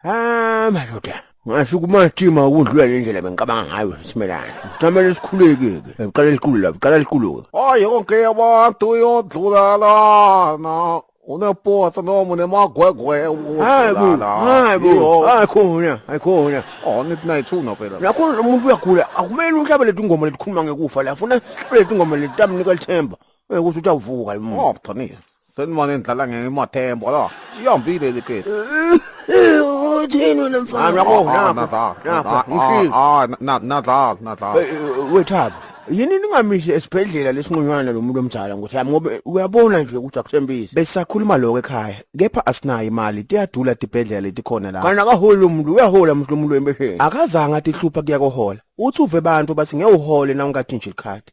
Ah madoda ngasho kumatima ukudlula le ndlela bengicabanga ngayo simelana kutamele sikhulekeke beqala likhulu la beqala likhulu hayi konke abantu uyodlulalana unepotsa noma unemagwegwe hayi bo hayi bo hayi khona hayi khona oh nithi nayithuna phela nakho umuntu uyagula akumele uhlabe leti ngoma letikhuluma ngekufa la funa sihlabe leti ngoma leti tamnika lithemba Uyakusho ukuthi awuvuka yini? Oh, Tony. Senimona endlala ngemathembo la. Ihambile le khethi. Uthini wena mfana? Ah, nakho, nakho, nakho, Ah, ngishilo. ah, na- nadlala, nadlala. Eh, eh, Wethaba, yini ningamisi esibhedlela lesinqunywana lo muntu omdala ngothi yami ngoba uyabona nje ukuthi akuthembisi. Besakhuluma lokho ekhaya, kepha asinayo imali, tiyadula tibhedlela letikhona la. Kana akaholi lo muntu, uyahola mhlo umuntu wembesheni. Akazange atihlupha kuya kohola. Uthi uve abantu bathi ngeke uhole na ungathi nje ikhadi.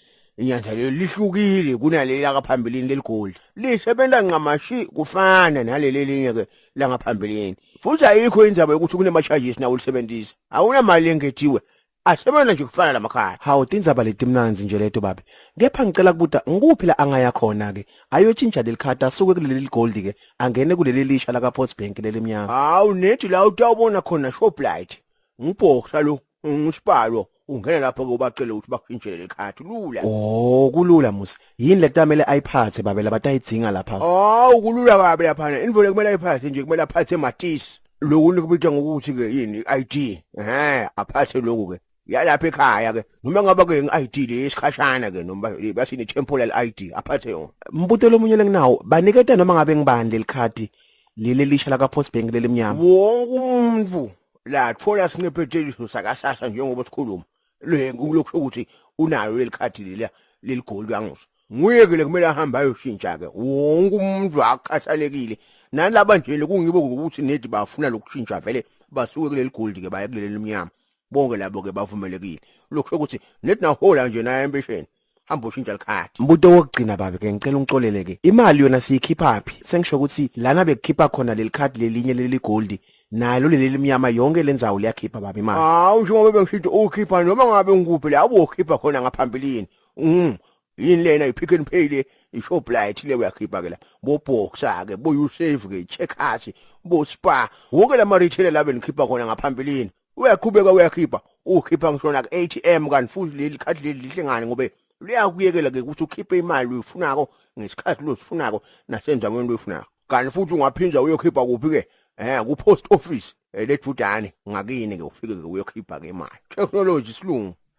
inyanja leli lihlukile kunaleli lakaphambilini leligolde lisebenza ncamashi kufana naleli elinye-ke langaphambilini futhi ayikho indzaba yokuthi kunema-charges nawo ulisebenzisa awunamali engetiwe asebenza nje kufana lamakhaya hawu tindzaba letimnanzi nje leto babe kepha ngicela kubuta ngikuphi la angaya khona-ke ayotshintsha leli khadi asuke kuleli ligoldi-ke angene kuleli lisha lakapost bank lelimnyama hawu nethi la utawubona khona shoplight ngibhoksa lo ngisibalo ungena lapho ke ubacele ukuthi bakushintshele lekhathi lula oh kulula musi yini letamele ayiphathe babe labatayidzinga lapha hawu kulula kabi lapha ne invole kumele ayiphathe nje kumele aphathe matisi lokhu nikubitha ngokuthi ke yini i-ID ehe aphathe lokhu ke yalapha ekhaya ke noma ngaba ke ngi-ID le isikhashana ke noma basini temporal ID aphathe yona mbuto lomunye lenginawo baniketa noma ngabe ngibani lelikhadi leli lisha laka post bank lelimnyama wonke umuntu lathola sinepheteliso sakasasa njengoba sikhuluma le ngokusho ukuthi unayo leli khadi leliya leli goli kwanguso nguye ke lekumele ahambe ayoshintsha ke wonke umuntu akhathalekile nalaba nje kungibo ukuthi nedi bafuna lokushintsha vele basuke kuleli gold ke baye kuleli mnyama bonke labo ke bavumelekile lokusho ukuthi nedi nahola nje naye empesheni hamba ushintsha likhadi mbuto wokugcina babe ke ngicela ungixolele ke imali yona siyikhipha phi sengisho ukuthi lana bekukhipha khona leli khadi lelinye leli gold nalo leli limnyama yonke lenzawo liyakhipha babe imali hawu njengoba bengishithi ukhipha noma ngabe ngikuphi la ukhipha khona ngaphambilini mm yini lena ipick and pay le ishoplight le uyakhipha ke la boboxa ke boyusave ke checkers bospar wonke lama retailer labe nikhipha khona ngaphambilini uyaqhubeka uyakhipha ukhipha ngisho na ATM kanti futhi leli khadi leli lihle ngani ngobe liyakuyekela ke ukuthi ukhiphe imali uyifunako ngesikhathi losifunako nasendaweni loyifunako kanti futhi ungaphinda uyokhipha kuphi ke eh ku post office eh, lejudane ngakini ke ufike ke uyokhipha ke imali technology silungu